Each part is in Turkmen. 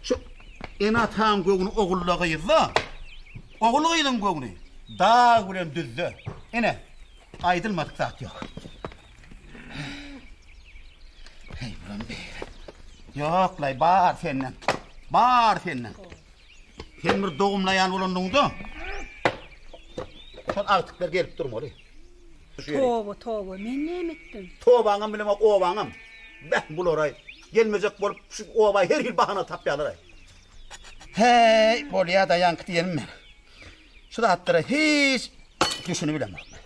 Şu ene-ataň göwni ogulda gyzda, ogul-gyzyň göwni dag bilen düzde. Ine, aýdylmadyk zat ýok. Heý, bulam beýle. Ýok, laý, bar senden. Bar senden. Sen bir dogumlaýan bolandygyňda, şol agtyklar gelip durmaly. Toba, toba, men näme etdim? Tobaňam bilemok, obaňam. Beh, bular-aý, gelmejek bolup, şu oba her hil bahana tapýarlar-aý. Häý, bolýa daýank diýenim men. Şu zatlara hiç düşünip bilemok men.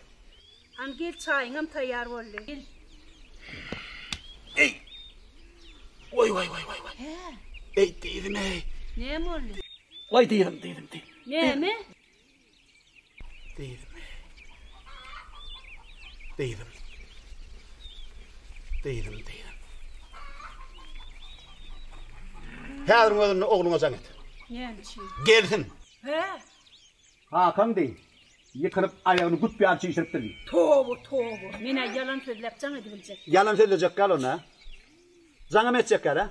Hany gel, çaýyňam taýýar boldy. Gel. Eý! Waý, waý, waý, waý, waý. Eý, dyzym-eý! Näme boldy? Waý, dyzym, dyzym, dyzym. Näme? Deýdim. Deýdim. Deýdim, deýdim. Häzir özünde ogluňa jaň et. Gelsin. He. Hakan deý. Ýykylyp aýagyny güp ýaly çişiripdir. Toba, toba. Men-ä ýalan sözläp jaň edibiljek. Ýalan sözlejek gal onda. Jaňam etjek ýaly-ä.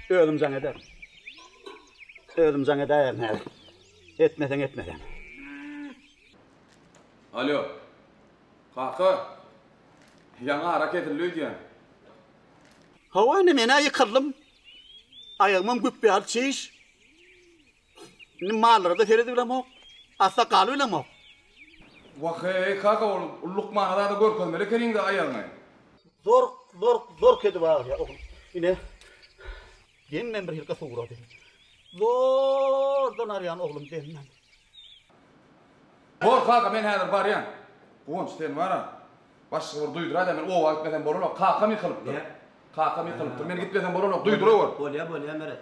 Özüm jaň ederin. Özüm jaň edäýerin häzir. Etmeseň etmesen. Alýo. Kaka. Ýaňy ara kesildi öýdýän. Hawa indi men-ä ýykyldym. Aýagymam güpbäl çiş. Indi mallara-da seredip bilemok, asla galyp bilemok. Wah-eý, kaka, ol lukmana zada görkezmeli ekeniň-dä aýagyňy. Zork, zork, zork edip agyrýar, oglum. Ine, demem birhili suwrady. Zordan arýan, oglum, demem. Bor, kaka, men häzir barýan. Guwanç, sen bar-a, başga bir duýdura-da, men oba gitmesem bolanok, kakam ýykylypdyr. Näme? Kakam ýykylypdyr, men gitmesem bolanok, duýdurawor. Bolýar, bolýar, Meret.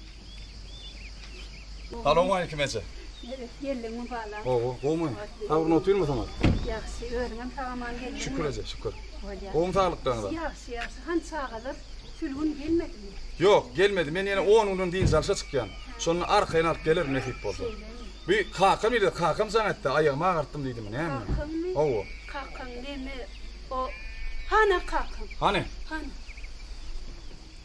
Salowmaleýkim eje. Nebet geldiň mübala. Gowy, gowmy? Saglygyň otyrmy soňat? Ýagşy, özüňem sagaman geldiňmi? Şükür eje, şükür. Bolýa. Gowmy saglyklaryňyzam? Ýagşy, ýagşy. Han çagalar Sülgün gelmedimi? Ýok, gelmedi. Men ýene on günden dynç alşa çykýan. Şonda arkaýyn alyp gelerin nesip bolsa. Şeýlemi? Bu kakam ýerde, kakam jaň etdi, aýagymy agartdym diýdimi, näme? Kakaňmy? Hawa. Kakaň neme o? Hana kakaň? Hany? Hany?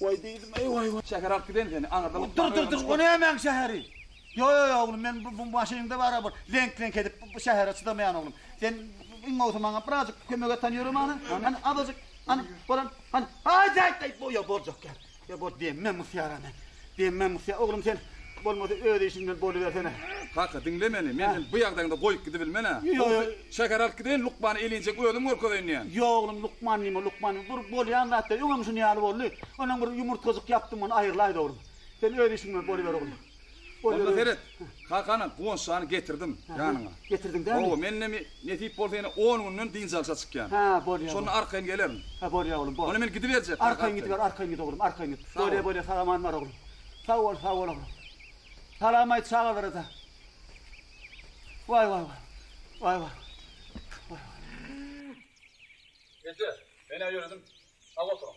Waý diýdim, eý waý waý. Şäher alyp giden seni, aňyrda bu. Dur dur dur, o nämäň şäheri? Ýo ýo ýo oglum, men bu maşynyňda bara bir leňk leňk edip bu şähere çydamaýan oglum. Sen iň bolsa maňa birazjyk kömek et han ýöre mana, hany azajyk, hany, bolan, hany, aý, aý, aý, ýo boljak ýaly, ýo bol, diýemmi men bu syýara men. Demme Musýa oglum sen, bolmasa öz işiň bilen bolubersene. Kaka, diňle meni, men seni bu ýagdaýyňda goýup gidibilmen-ä. Bolsa, şähere alyp gideýin, lukmany elinjek özüm görkezeýin diýýän. Ýok oglum, lukman diýme, lukman diýme, bir bolýan zat-da, öňem şuny ýaly boldy. Onam bir ýumurtgajyk ýapdym, ony aýyrlaýdy oglum. Sen öz işiň bilen boluber oglum. Onda seret, kakany, Guwanç jany getirdim ýanyňa. Getirdiň dämi? Hawa, men indi Nesip bolsa ýene on günden dynç alşa çykýan. Hä, bolýa. Şonda arkaýyn gelerin. Hä, bolýa oglum, bol. Onda men gidiberjek. Arkaýyn gidiber, arkaýyn git oglum, arkaýyn git. Sag bol. Bolýa, bolýa, sag aman bar oglum. Sag bol, sag bol oglum. Salam aýt çagalara-da. Waý, waý, waý. Waý, waý. Waý, waý. Eje, men-ä ýöredim. Sag oturyň.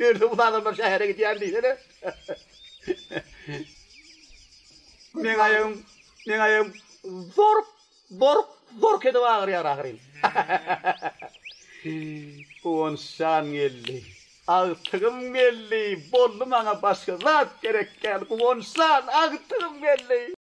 Ýörite uly adamlar şähere gidýär diýsene. Meň aýagym, meň aýagym zork, zork, zork edip agyrýar ahyryn. Guwançjan geldi. Agtygym geldi. Boldy maňa başga zat gerek däl. Guwançjan, agtygym geldi.